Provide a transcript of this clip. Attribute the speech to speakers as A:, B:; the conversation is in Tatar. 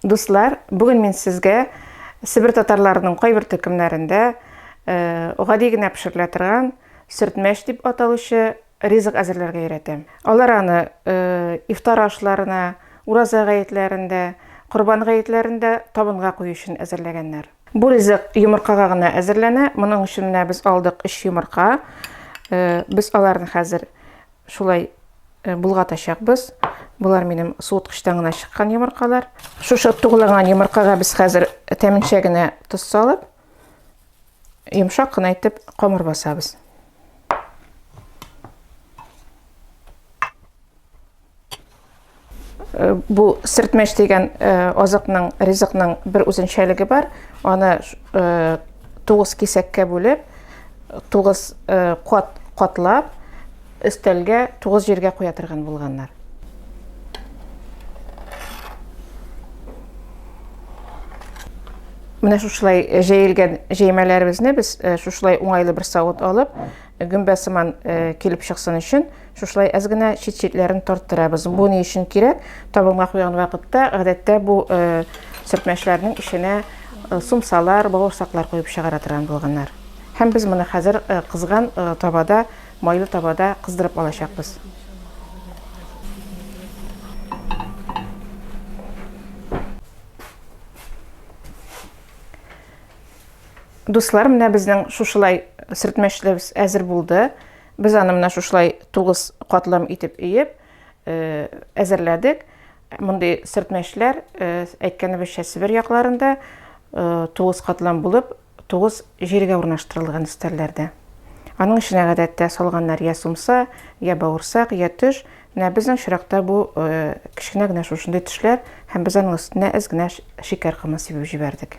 A: Дуслар, бүген мин сезгә Себер татарларының кайбер төркемнәрендә гади генә пешерелә торган сөртмәш дип аталучы ризык әзерләргә өйрәтәм. Алар аны ифтар ашларына, ураза гаетләрендә, корбан гаетләрендә табынга кую өчен әзерләгәннәр. Бу ризык йомыркага гына әзерләнә. Моның өчен менә без алдык 3 йомырка. Без аларны хәзер Шулай болгатачакбыз. Болар минем суыткычтан гына чыккан йомыркалар. Шушы туглаган йомыркага без хәзер тәминчә генә тоз салып, йомшак кына итеп камыр басабыз. Э, бу сертмәш дигән э, азыкның ризыкның бер үзенчәлеге бар аны э, тугыз кисәккә бүлеп тугыз кат катлап өстәлгә тугыз җиргә куя торган булганнар менә шушылай җәелгән җәймәләребезне без шушылай уңайлы бер савыт алып гөмбә сыман килеп чыксын өчен Шушылай әз генә чит-читләрен тарттырабыз. Бу ни өчен кирәк? Табынга куйган вакытта, гадәттә бу э, сөртмәчләрнең эченә э, сумсалар, бавырсаклар куеп чыгара торган булганнар. Һәм без моны хәзер э, кызган табада, майлы табада кыздырып алачакбыз. Дуслар, менә безнең шушылай сөртмәчләребез әзер булды. Без аны менә шушылай тугыз катлам итеп өеп э, әзерләдек. Мондый сөртмәчләр э, әйткәнебезчә Себер якларында э, тугыз катлам булып, тугыз җиргә урнаштырылган өстәлләрдә. Аның эченә гадәттә салганнар я сумса, я бауырсак, я төш. Менә безнең чиракта бу кечкенә генә шушындый төшләр һәм без аның өстенә әз генә шикәр комы сибеп җибәрдек.